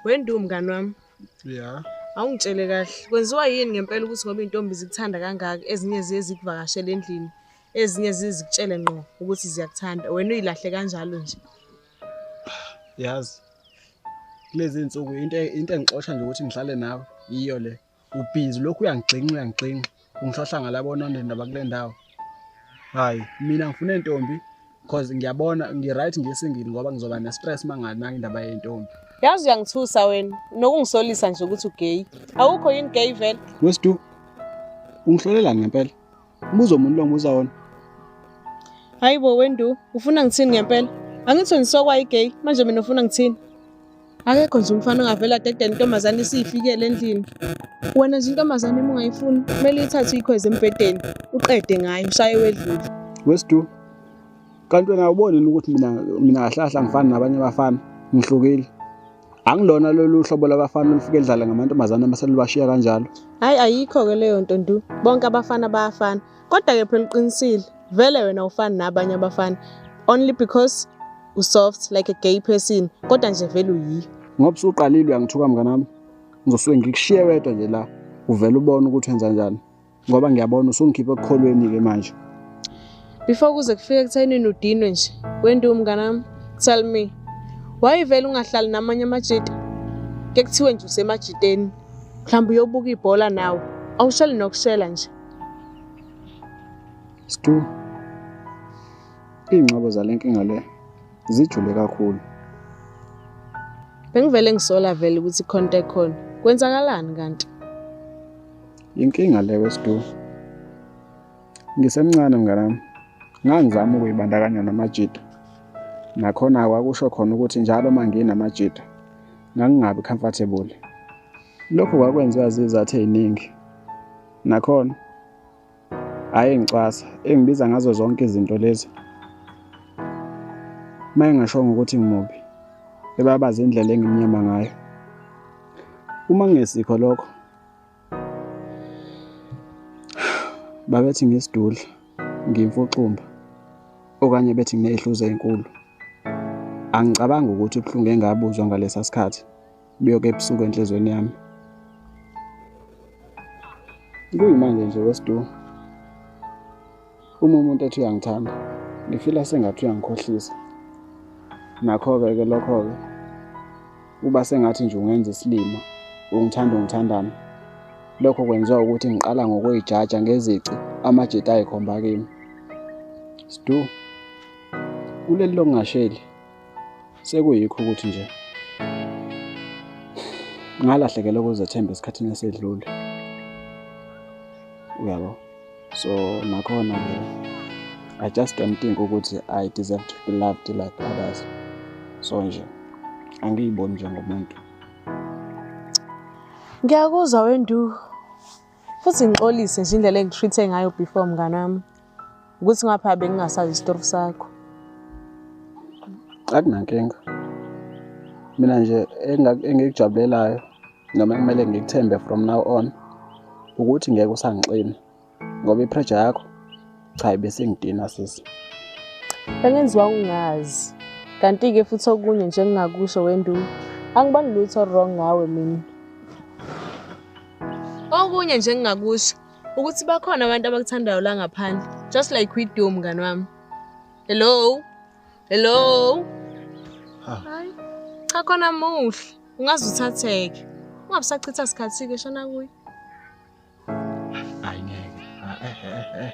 Wendu mngani wami. Yeah. Awungitshele kahle. Kwenziwa yini ngempela ukuthi ngoba intombi zikuthanda kangaka ezinye ziye zikuvakashele endlini, ezinye zizikutshele ngqo ukuthi ziyakuthanda. Wena uyilahle kanjalo nje. Yazi. Kulezi insuku into into engixosha nje ukuthi ngihlale nawe yiyo le. ubhinzi lokhu uyangixinxa uyangixinxa ungisahlangala bonondeni laba kule ndawo hhayi mina ngifuna intombi because ngiyabona ngi-right ngisingile ngoba ngizoba ne-stress uma nganaki indaba yentombi yazi uyangithusa wena nokungisolisa nje ukuthi ugeyi awukho yini geyi vele wesidu ungihlolelani ngempela Mbuzo umuntu lo ngibuza wona. Hayi bo wendu, ufuna ngithini ngempela? Angithi nisokwa igay, manje mina ufuna ngithini? Akekho nje umfana ongavela dede intombazane isiyifikele endlini. Wena nje intombazane uma ungayifuni, kumele uyithathe uyikhweze embhedeni, uqede ngayo, ushaye wedlule. Wesidu. Kanti wena awuboni yini ukuthi mina mina kahlahla ngifana nabanye abafana, ngihlukile. angilona lolu hlobo labafana olufike lidlale ngamantombazane uma selubashiya kanjalo hhayi ayikho-ke leyo nto ndu bonke abafana bayafana kodwa-ke phela uqinisile vele wena ufani nabanye abafana only because usoft like a gay person kodwa nje vele uyiyo ngoba usuqalile uyangithuka mnganami ngizosuke ngikushiye wedwa nje la uvele ubone ukuthi wenza njani ngoba ngiyabona usungikhipha ekukholweni-ke manje before kuze kufike ekuthenini udinwe nje wendiwe umnganami tell me wayevele ungahlali namanye amajita ke kuthiwe nje usemajiteni mhlawumbe uyobuka ibhola nawe awushali nokushela nje stu iy'ngxobo zale nkinga le zijule kakhulu bengivele ngisola vele ukuthi khonto ekhona kwenzakalani kanti Inkinga le wesidu. Ngisemncane mnganami. Ngangizama ukuyibandakanya namajita. Nakhona kwakusho khona ukuthi njalo uma nginamajita ngangingabi comfortable. Lokhu kwakwenziwa zizathu eziningi. Nakhona hhayi ngicwasa engibiza ngazo zonke izinto lezi uma engashongo ukuthi ngimubi ebabaza indlela engimnyama ngayo uma kungesikho lokho babethi ngisidudla ngimfuxumba okanye bethi ngineyihluzo ezinkulu angicabangi ukuthi ubuhlungu engabuzwa ngalesa sikhathi buyoke ebusuku enhlizweni yami kuyimanje nje wesidumo uma umuntu ethi uyangithanda ngifila sengathi uyangikhohlisa nakho-ke ke lokho-ke uba sengathi nje ungenza isilima ungithanda ungithandana lokho kwenziwa ukuthi ngiqala ngokuyijaja ngezici amajita ayikhomba kimi sidu kuleli lokungasheli Sekuyikho ukuthi nje ngalahlekelwa ukuzethemba esikhathini esedlule. Uyabo? So nakhona ke I just don't think ukuthi I deserve to be loved like others. So nje angiyiboni njengomuntu. Ngiyakuzwa wendu futhi ngixolise nje indlela engitreat ngayo before mngane wami ukuthi ngapha bengingasazi isitori sakho akunankinga mina nje engikujabulelayo noma kumele ngikuthembe from now on ukuthi ngeke usangixini ngoba ipressure yakho Cha ibesingidina sisi. Bengenziwa ungazi. Kanti ke futhi okunye nje engingakusho wendu angibani lutho wrong ngawe mina. Okunye nje engingakusho ukuthi bakhona abantu abakuthandayo la ngaphandle just like we do mngani wami. Hello. Hello. Hayi. Cha khona muhle. Ungaze uthatheke. Ungabusachitha isikhathi ke shona kuye. Hayi ngeke. Ah, eh, eh, eh, eh.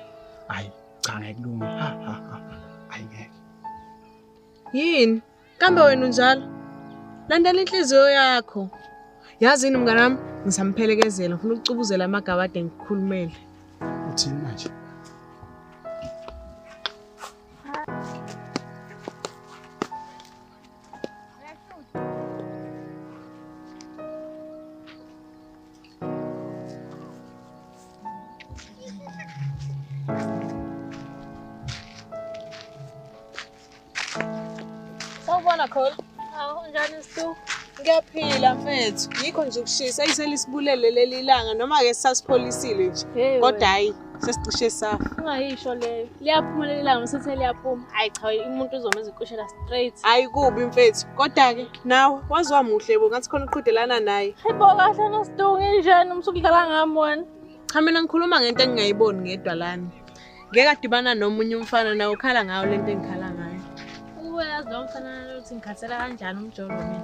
Hayi cha ngeke kulunge. Ha ha ha. Hayi ngeke. Yini? Kambe wena unjalo? Landela inhliziyo yakho. Yazi yini mngane wami? Ngisamphelekezela ngifuna ukucubuzela amagabade ngikhulumele. Uthini manje? Nicole? Awu njani Stu? Ngiyaphila mfethu. Yikho nje ukushisa iseli sibulele leli langa noma ke sasipholisile nje. Kodwa hayi sesicishe safa ungayisho leyo liyaphumelela ilanga msithe liyaphuma hayi cha umuntu uzoma ezikushela straight hayi kubi mfethu kodwa-ke nawe waziwa muhle bo ngathi khona uqhudelana naye hayibo kahle nosidungu injani umsuku udlala ngami wena cha mina ngikhuluma ngento engingayiboni ngedwa lami ngeke adibana nomunye umfana nawe ukhala ngayo le nto engikhala ngayo uwe yazi lo mfana lokuthi ngikhathela kanjani umjolo mina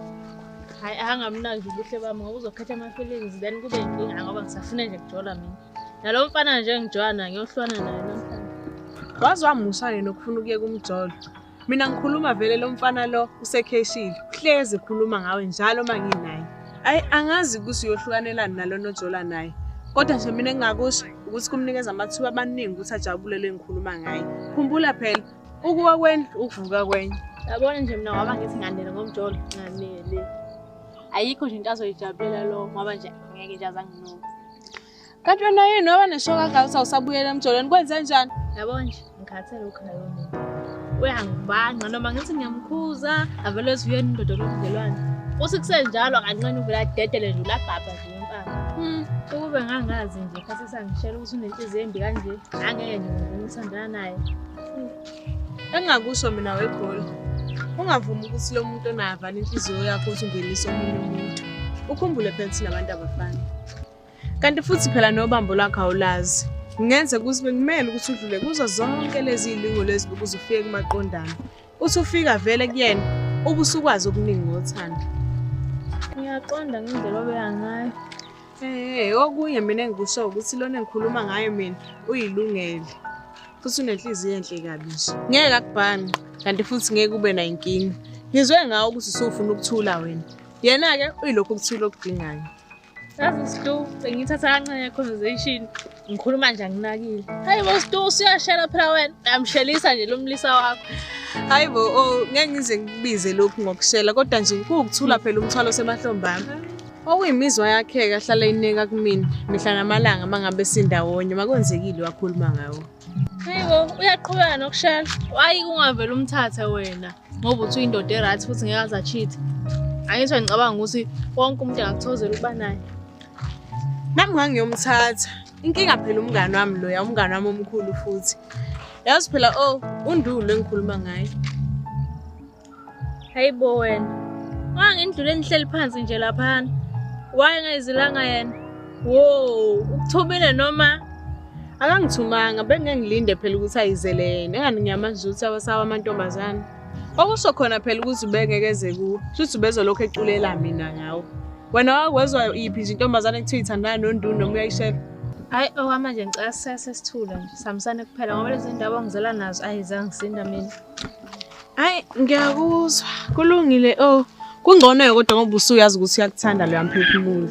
hayi angamnaki ubuhle bami ngoba uzokhetha ama-feelings then kube yinkinga ngoba ngisafune nje kujola mina nalo mfana nje ngijwana ngiyohlwana naye namhlanje waze wamusha yena ukufuna ukuyeka umjolo mina ngikhuluma vele lo mfana lo usekheshile uhlezi ekhuluma ngawe njalo uma nginaye ayi angazi ukuthi uyohlukanelani nalona ojola naye kodwa nje mina engingakusho ukuthi kumnikeza amathuba amaningi ukuthi ajabule le ngikhuluma ngaye khumbula phela ukuwa kwendlu ukuvuka kwenye yabona nje mina ngoba ngithi ngandela ngomjolo nganele ayikho nje into azoyijabulela lo ngoba nje ngeke nje azanginuka Kanti wena yini waba neshoka kangaka uthi awusabuyela emjolweni kwenze njani? Yabo nje ngikhathele ukhaya lomuntu. Uyangibanga noma ngithi ngiyamkhuza avele ezuyeni indoda lobudlelwane. Uthi kusenjalo kancane uvela dedele nje ulabhabha nje impama. Hmm. Ukube ngangazi nje khathi sangishela ukuthi unenhliziyo embi kanje angeke nje ngimthandana naye. engingakusho mina wegoli ungavumi ukuthi lo muntu onayo avale inhliziyo yakho ukuthi ungenise omunye umuntu ukhumbule phela ukuthi nabantu abafani kanti futhi phela nobambo lwakho awulazi ngenze ukuthi bekumele ukuthi udlule kuzo zonke lezi iy'lingo lezi ukuze ufike kumaqondana uthi ufika vele kuyena ubusukwazi okuningi ngothando ngiyaqonda ngendlela obeya ngayo Eh, okunye mina engikusho ukuthi lona engikhuluma ngayo mina uyilungele. Futhi unenhliziyo enhle kabi nje. Ngeke akubhani kanti futhi ngeke ube nayo inkinga. Ngizwe ngawo ukuthi usufuna ukuthula wena. Yena-ke uyilokhu ukuthula okudingayo. Yazi Slu, sengithatha kancane conversation. ngikhuluma nje anginakile hayi bo stu usuyashela phela wena uyamshelisa nje lomlisa wakho hayi bo oh, ngeke ngize ngikubize lokhu ngokushela kodwa nje kuwukuthula phela umthwalo osemahlombaami okuyimizwa yakhe kahlala ineka kumina mihla namalanga mangabe sindawonye makwenzekile wakhuluma ngawo hayi bo uyaqhubeka nokushela wayi kungavela umthathe wena ngoba uthi uyindoda erathi futhi ngeke azacheat angisho ngicabanga ukuthi wonke umuntu angakuthozela ukuba naye Nami ngangiyomthatha. Inkinga phela umngane wami loya, umngane wami omkhulu futhi. Yazi phela oh, undulu engikhuluma ngaye. Hayibo wena. Wangendlule engihleli phansi nje laphana. Wayengayizilanga yena. Wo, ukuthumile noma akangithumanga bengengilinde phela ukuthi ayizele yena. Engani ngiyamazi ukuthi awasawa amantombazane. Okusho khona phela ukuthi ubengeke eze kuwe. Shuthi ubezolokhu eculela mina ngawo. Wena wakwezwa iphi nje intombazane ekuthiwa ithandana nondunu noma uyayishela? Hayi owama nje ngicela sese sithule nje. Sihambisane kuphela ngoba lezi ndaba ongizela nazo ayi zangisinda mina. Hayi ngiyakuzwa. Kulungile oh. Kungcono kodwa ngoba usuyazi ukuthi uyakuthanda lo yamphefumulo.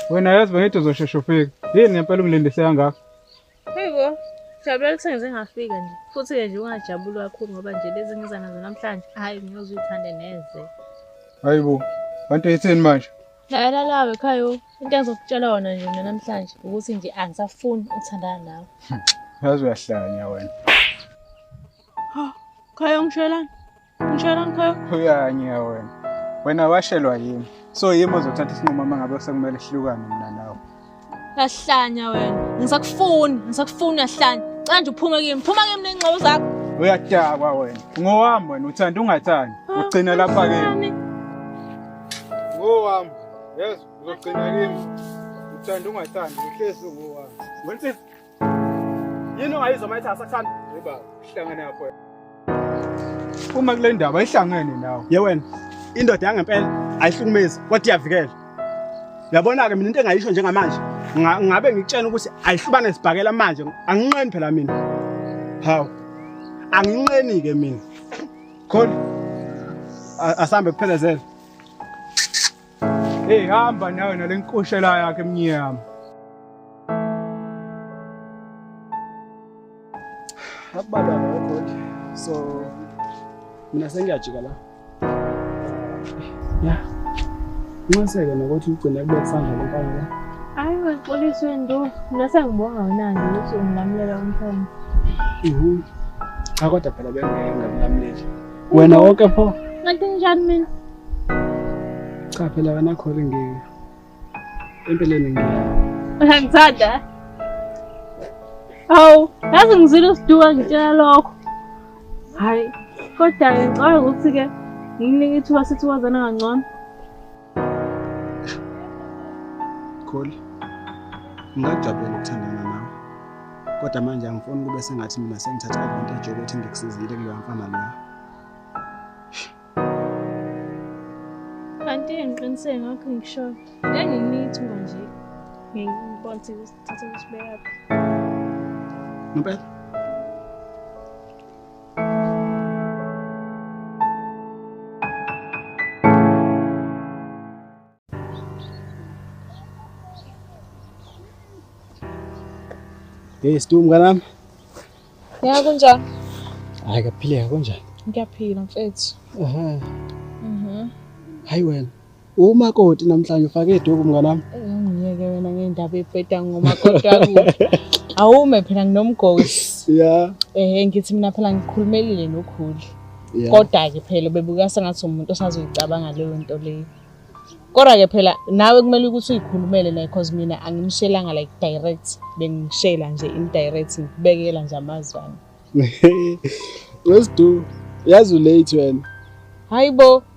wena yazi bengithi uzosheshe ufike yini ngempela ungilindise kangaka yiko jabulela ukuthi sengize ngafika nje futhi-ke nje ungajabuli kakhulu ngoba nje lezi ngiza nazo namhlanje hhayi ngiyozuyithande neze hayi bo kanti yithini manje Lalela lawe Khayo, into engizokutshela yona nje mina namhlanje ukuthi nje angisafuni ukuthandana nawe. Yazi uyahlanya wena. Ha, Khayo ngishelani? Ngishelani Khayo? Uyanya wena. Wena washelwa yimi. So yimi ozothatha isinqumo uma ngabe sekumele sihlukane mina nawe. Uyahlanya wena. Ngisakufuni, ngisakufuni uyahlanya. Cela nje uphume kimi. Phuma kimi nengxobo zakho. Uyadakwa wena. Ngowami wena uthanda ungathandi. Ugcina lapha kimi. Ngowami. Yes, uzogcina kimi. Uthanda ungathandi, uhlezi ngowami. Wena yini ongayizwa uma ethi asakuthanda uba uhlangane apho uma kule ndaba ayihlangene nawe ye wena indoda yangempela ayihlukumezi kodwa iyavikela yabona-ke mina into engayisho njengamanje ngabe ngikutshena ukuthi ayihlubane sibhakela manje anginqeni phela mina hawu anginqeni-ke mina khona asambe kuphelezele Hey hamba nawe nalenkoshela yakhe emnyama. Ababa God. So mina sengiyajika la. Yeah. Nxeseke nokuthi ugcine kube kusandla lenkani la. Hayi waxolisa into. Mina sengibonga wena nje ukuthi ungilamulela umthombo. Mhm. Cha kodwa phela bengeke ngakulamuleli. Wena woke pho. Ngathi njani mina? Cha phela wena khole ngeke. Empeleni ngeke. Uyangithanda? Awu, yazi ngizile usiduka ngitshela lokho. Hayi, kodwa ngicabanga ukuthi-ke ngikunike ithuba sithi wazana kangcono. Kholi, ngingajabula ukuthandana nawe. Kodwa manje angifuni kube sengathi mina sengithatha advantage yokuthi ngikusizile kuleyo mfana leyo. Kanti ngiqiniseke ngakho ngishoyo. Nganginithu manje. Ngibona ukuthi usithatha usibeka. Ngempela? Hey Stu mnganami. Ya kunjani? Hayi kaphileka kunjani? Ngiyaphila mfethu. Aha. Mhm. Hayi wena. Umakoti namhlanje ufake iduku mnganami. Ngiyeke wena ngendaba ebheda ngomakoti wakuthi. Awume phela nginomgosi. Yeah. Eh ngithi mina phela ngikhulumelile nokhuli. Kodwa ke phela bebuka sengathi umuntu osazoyicabanga leyo nto leyo. Kodwa ke phela nawe kumele ukuthi uyikhulumele naye because mina angimshelanga like direct bengishela nje indirect ngibekela nje amazwana. Wesidu yazi ulate wena. Hayibo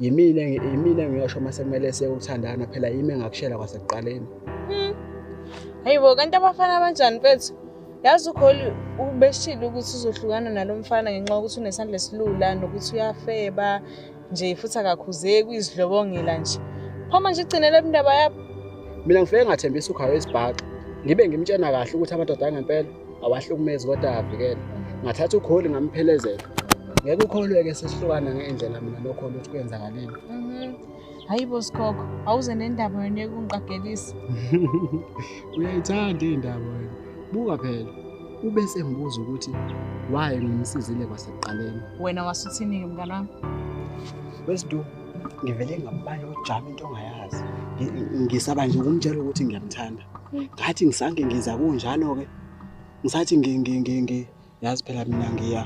yimina yimina ngiyosho uma sekumele siyeke ukuthandana phela yimi engakushela kwasekuqaleni hmm. hayi bo kanti abafana abanjani mfethu yazi ukholi ubeshile ukuthi uzohlukana nalo mfana ngenxa yokuthi unesandla esilula nokuthi uyafeba nje futhi akakhuzeki uyizidlobongela nje phoma nje igcinele indaba yabo mina ngifike ngathembisa ukhawe isibhaxa ngibe ngimtshena kahle ukuthi amadoda angempela awahlukumezi kodwa avikele ngathatha ukholi ngamphelezela ngeke ukholwe-ke sesihlukana ngendlela mina nokholi ukuthi kwenzakalile mhm. hayi bo sikhokho awuze nendaba yona ekungiqagelisa uyayithanda iy'ndaba wena buka phela ube sengibuza ukuthi waye ngimsizile kwasekuqaleni wena wasuthini-ke mngane wami wesiduku ngivele ngabala ujama into ongayazi ngisaba nje ukumtshela ukuthi ngiyamthanda ngathi ngisange ngiza kunjalo-ke ngisathi yazi phela mina ngiya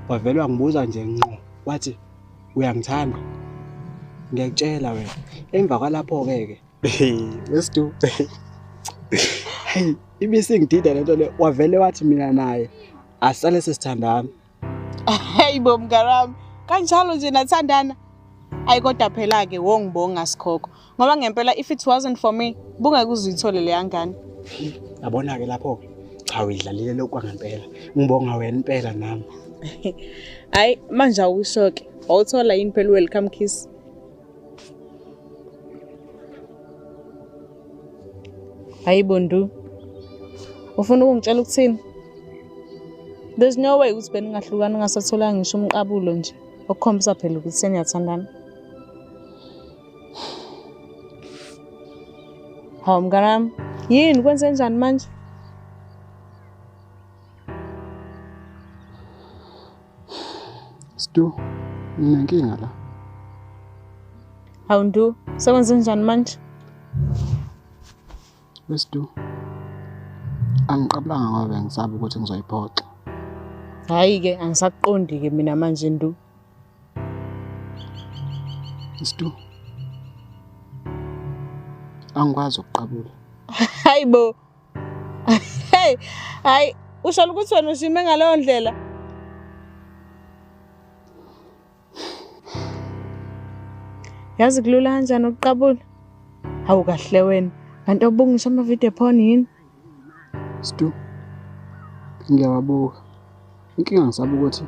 wavele wangibuza nje nqo wathi uyangithanda ngiyakutshela wena emva kwalapho-ke ke wesidu heyi ibisingidida lento le wavele wathi mina naye asale sesithandana Hey bo mngarami, kanjalo nje nathandana. Ayi kodwa phela ke wongibonga sikhoko ngoba ngempela if it wasn't for me bungeke uzithole leya ngane. Yabona ke lapho ke cha uyidlalile lokho ngempela. Ngibonga wena impela nami. Hayi manje awusho ke. Wawuthola yini phela welcome kiss? Hayi Bondu. Ufuna ukungitshela ukuthini? There's no way ukuthi beningahlukana ungasatholanga ngisho umqabulo nje. Okukhombisa phela ukuthi seniyathandana. Hawu mnganami, yini kwenze njani manje? Stu, nginenkinga la. Hawu Ndu, sekwenze njani manje? Westu. Angiqabulanga ngoba bengisaba ukuthi ngizoyiphoxa. Hayi ke angisaqondi ke mina manje Ndu. Stu. Angikwazi ukuqabula. Hayibo. hey hayi usho ukuthi wena ushime ngaleyo ndlela yazi kulula kanjani ukuqabula hawu kahle wena kanti obunga ngisho amavidiyo phone yini stu ngiyawabuka inkinga ngisabuka ukuthi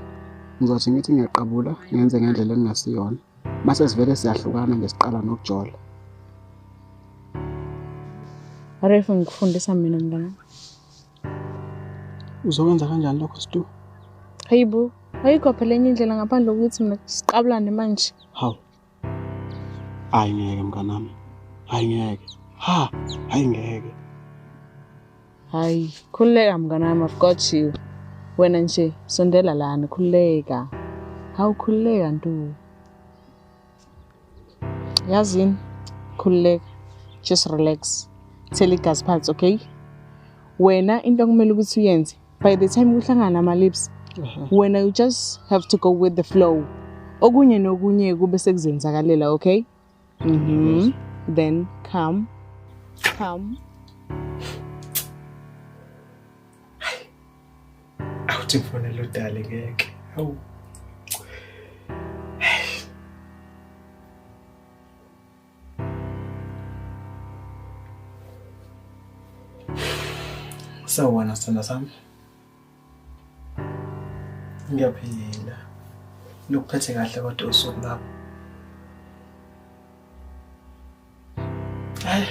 ngizothi ngithi ngiyaqabula ngenze ngendlela engingasiyona mase sivele siyahlukana ngesiqala nokujola Aref ngikufundisa mina mntana uzokwenza kanjani lokho situ hayibo ayikho phela enye indlela ngaphandle kokuthi mina siqabulane manje hawu hayi ngeke mnganami hayi ngeke ha hayi ngeke Hayi, khululeka mngane wami, I've got you. Wena nje sondela lana, khululeka. Hawu khululeka ntu. Yazini, khululeka. Just relax. Thela igazi phansi, okay? Wena into okumele ukuthi uyenze by the time kuhlangana ama lips, wena you just have to go with the flow. Okunye nokunye kube sekuzenzakalela, okay? Mm -hmm. Then come. Come. Awuthi mfonela udale ngeke. Hawu. Sawubona sithanda sami. Ngiyaphila. Lokuphethe kahle kodwa usuku lapho. Hayi.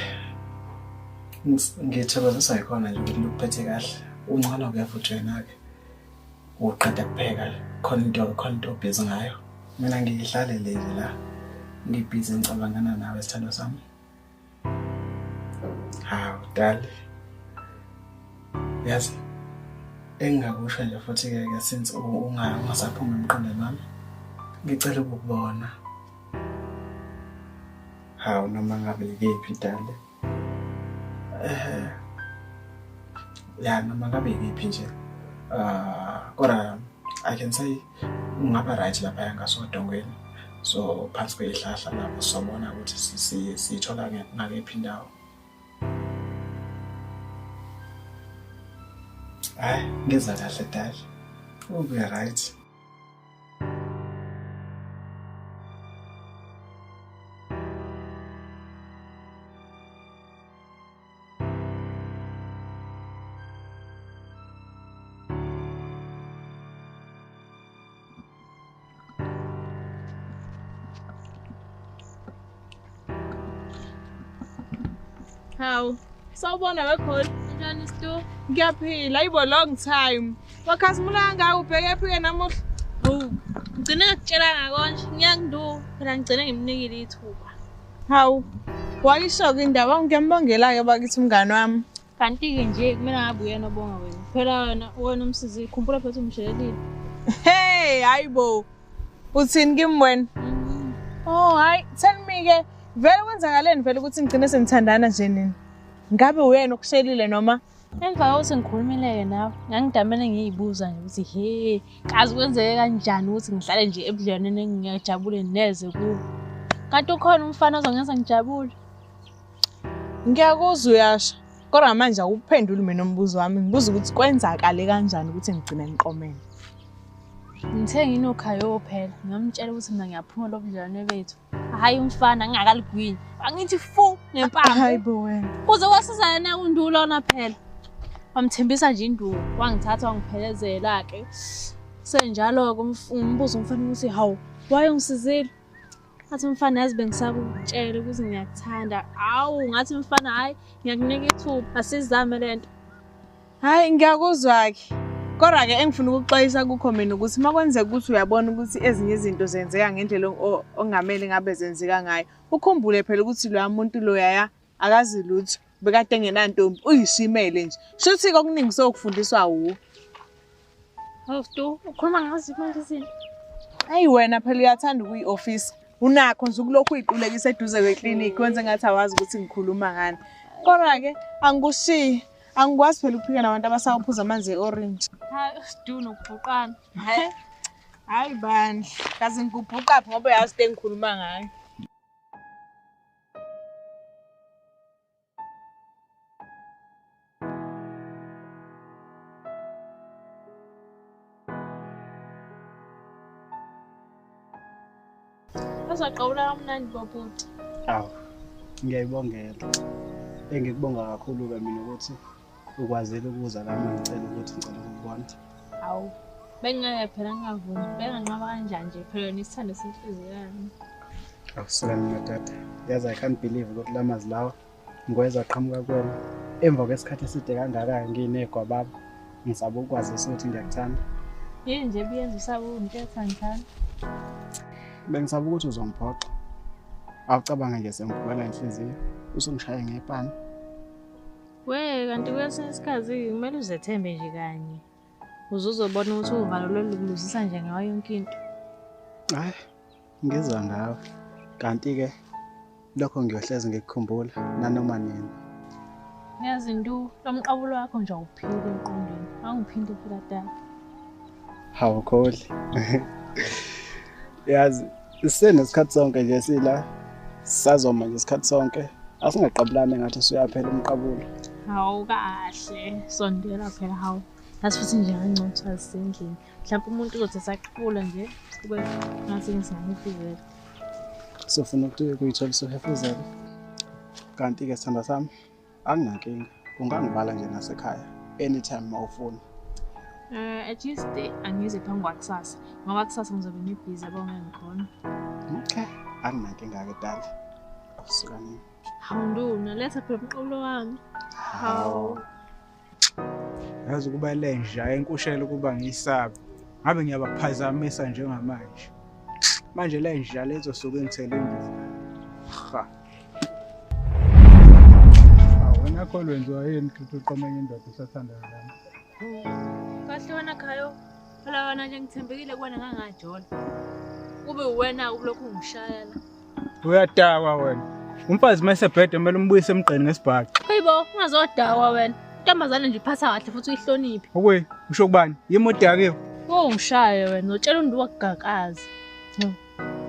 Ngithokozisa yikhona nje ukuthi lokuphethe kahle. Uncane kuyavuthwa yena-ke. Uqeda kupheka khona into khona into obhizi ngayo. Mina ngihlalele nje la. Ngibhizi ngicabangana nawe sithando sami. hawu dali yazi engingakusho nje futhi-ke ke since ungasaphumi emqondweni wami ngicela ukukubona hawu noma ngabe ikephi dali um ya noma ngabe ikephi nje um kodwa i can say ungaba right lapha yangasodongweni so phansi kweyihlahla lapho sobona ukuthi siyithola ngakephi indawo hayi ngeza kahle dali ube right Hawu, sawubona weGold. Njani Stu? Ngiyaphila, ayibo long time. Wakhazimula kangaka ubheke phike namuhla. Hawu, ngigcine ngakutshela ngakonje. Ngiyakunduka. Phela ngigcine ngimnikile ithuba. Hawu, wayisho-ke indaba ngiyambongela-ke bakithi umngane wami. Kanti-ke nje kumele ngabe uyena obonga wena. Phela wena wena umsizile, khumbula futhi umshelelile. Hey, hayi bo. Uthini kimi wena? Mm. Oh, hayi, tell me-ke vele kwenzakaleni vele ukuthi ngigcine sengithandana nje nini? Ngabe uyena okushelile noma? Emva kokuthi ngikhulumile-ke nawe, ngangidamane ngiyibuza nje ukuthi he, kazi kwenzeke kanjani ukuthi ngihlale nje ebudlelwaneni engingajabule neze kuwo kanti ukhona umfana ozongenza ngijabule ngiyakuzwa uyasho kodwa manje awuphenduli mina umbuzo wami ngibuza ukuthi kwenzakale kanjani ukuthi ngigcine ngiqomele ngithe nginokhaya ophela ngamtshela ukuthi mina ngiyaphuma lobudlelwane bethu Hayi umfana ngingakaligwini. Angithi fu ngempama. Hayi bo wena. Kuze kwasizana na kundulo ona phela. Wamthembisa nje induku, wangithatha wangiphelezela ke. Senjalo ke umbuzo umfana ukuthi hawu waye ungisizile. Athi umfana yazi bengisakutshela ukuthi ngiyakuthanda. Hawu ngathi umfana hayi ngiyakunika ithuba asizame lento. Hayi ngiyakuzwa-ke. Kodwa-ke engifuna ukuxwayisa kukho mina ukuthi uma kwenzeka ukuthi uyabona ukuthi ezinye izinto zenzeka ngendlela ongamele ngabe zenzeka ngayo. Ukhumbule phela ukuthi loya muntu loyaya akazi lutho bekade engenantombi uyishimele nje. Shuthi-ke okuningi sokufundiswa wuwe. Hoftu, ukhuluma ngazo imali izinto. Ayi wena phela uyathanda ukuyi office. Unakho nje ukulokhu uyiqulekisa eduze kweclinic wenze ngathi awazi ukuthi ngikhuluma ngani. Kodwa ke angikushiyi. Angikwazi phela ukuphika nabantu abasawaphuza amanzi e-orange. Hayi usidu nokubhuqana. Hayi. Hayi bandla. Kazi ngikubhuqa ngoba uyazi into engikhuluma ngayo. Uzaqawula kamnandi bobhuti. Awu. Ngiyayibongela. Engikubonga kakhulu ke mina ukuthi ukwazile ukuza la uma ngicela ukuthi ngicela ukukubona hawu bengingeke phela ngingavumi benganqaba kanjani nje phela yona isithando senhliziyo yami akusona mina tata yazi i can't believe ukuthi la mazwi lawa ngikweza aqhamuka kuwena emva kwesikhathi eside kangaka nginegwa baba ngisaba ukwazisa ukuthi ngiyakuthanda yini nje biyenza usaba ukuntetha ngithanda bengisaba ukuthi uzongiphoxa awucabanga nje sengivukela inhliziyo usungishaya ngepani Wee kanti kwesinye isikhathi kumele uzethembe nje kanye uze uzobona ukuthi uvalo lolubuzisa nje ngayo yonke into hayi ngizwa ngawe kanti-ke lokho ngiyohlezi ngikukhumbula nanoma nini ngiyazi ntu lo mqabulo wakho nje awuphili emqondweni angiphinde fulataka hawukhohli yazi Sisenesikhathi sonke nje sila sazoma nje isikhathi sonke asingaqabulani ngathi usuyaphela umqabulo. Hawu kahle sondela phela hawu yazi futhi nje angcothi azisendlini mhlawumbe umuntu uzothi esaqhula nje kube ngathi ngisingamufizela sofuna ukuthi kuyithola sohefuzela kanti-ke sithanda sami anginankinga ungangibala nje nasekhaya anytime uma ufuna um uh, at least eh, angize phambi kwakusasa ngoba kusasa ngizobe ngibhizi yabo ngengikhona okay anginankinga-ke dala sukanini hawu nduna letha phela umqobulo wami hawu yazi ukuba lenja enkushela ukuba ngiyisabe ngabe ngiyabaphazamisa njengamanje manje lenja lezosuke ngithele imbuzi ha wena kho lwenziwa yini ukuthi uqome enye indoda usathanda yona kahle wena khayo phela wena nje ngithembekile kuwena ngangajola kube uwena-ke ubulokhu ungishayela Uyadakwa wena. Umfazi mase bhede kumele umbuyise emgqeni ngesibhaxi. Hayibo, ungazodakwa wena. Intombazane nje iphatha kahle futhi uyihloniphe. Okuyi, usho kubani? Yimi odakiwe. Wo ngishaye wena, utshela umuntu wakugakaza.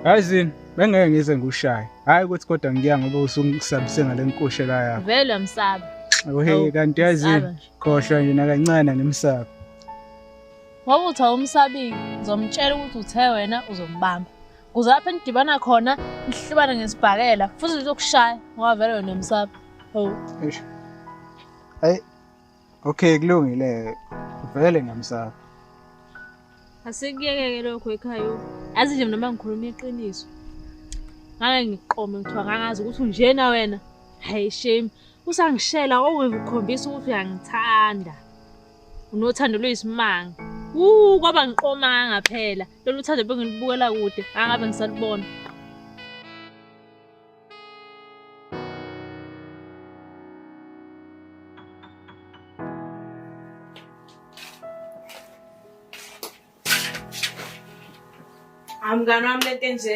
Yazini, bengeke ngize ngikushaye. Hayi ukuthi kodwa ngiya ngoba usungisabise ngale nkushela yakho. Vele uyamsaba. Ohe, Awu, kanti yazini, msaba nje. khohlwa nje nakancane ngimsaba. Ngoba uthi awumsabile, ngizomtshela ukuthi uthe wena uzombamba. kuze lapho enidibana khona nihlubane ngesibhakela futhi lizokushaya ngoba vele wena umsapha oh ayi okay kulungile vele ngamsapha asikuyekeke lokho ekhaya azi nje mina mangikhuluma iqiniso ngake ngiqome ngithiwa ngangazi ukuthi unjena wena hayi shame usangishela owekukhombisa ukuthi uyangithanda unothando luyisimanga wu kwaba ngiqoma ngaphela Lolu thando bengilibukela kude, angabe ngisalubona. Amngane wami lento enje.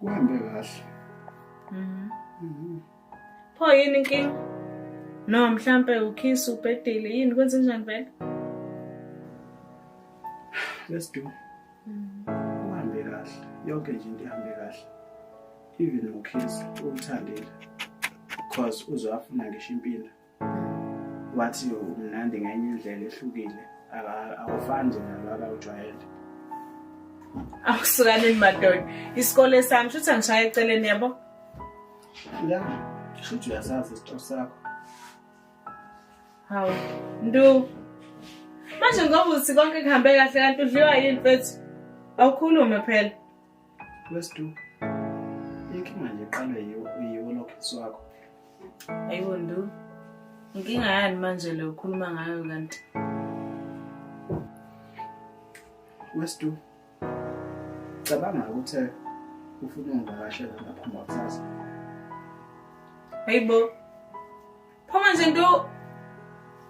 kuhambe kahle mhm. Mhm. pho yini inkinga no mhlampe ukhisi ubhedile yini kwenze njani vele let's do mhm. kuhambe kahle yonke nje into ihambe kahle even ukhisi umthandile because uzafuna ngisho impilo wathi umnandi ngenye indlela ehlukile awufani nje nalwaka ujwayele akusukanini madoda isikole sami shuthi angishaya eceleni yabo ya shuthi uyasazi isito sakho hawu ndu manje ngoba uthi konke kuhambe kahle kanti udliwa yini mfethu awukhulume phela Westu. Inkinga nje qale yiwo yiwo lokhisi wakho. Ayibo ndu. Inkinga yani manje le ukhuluma ngayo kanti? Westu. Cabanga ukuthi ufuna ungivakashela lapha ngakusasa. Ayibo. Phuma nje ndu.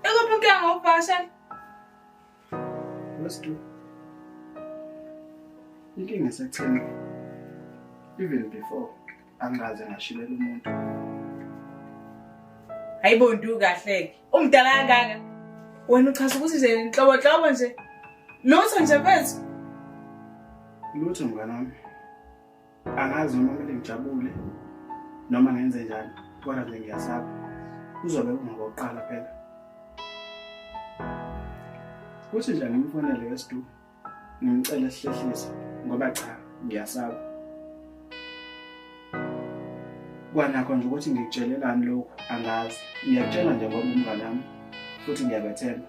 Ekuphi inkinga ngokuvakashela? Let's do. Inkinga esekutheni even before angaze ngashilela umuntu. Hayibo ndu kahleke. Umdala kangaka. Wena uchaza ukuthi nje inhlobo hlobo nje. Lutho nje phezu. Lutho mngane wami. angazi noma kumele ngijabule noma ngenze njani kodwa nje ngiyasaba kuzobe kungokokuqala phela kuthi nje ngimfonele wesidu ngimcele sihlehlise ngoba cha ngiyasaba kwanakho nje ukuthi ngikutshelelani lokhu angazi ngiyakutshela nje ngoba umnganami futhi ngiyabethemba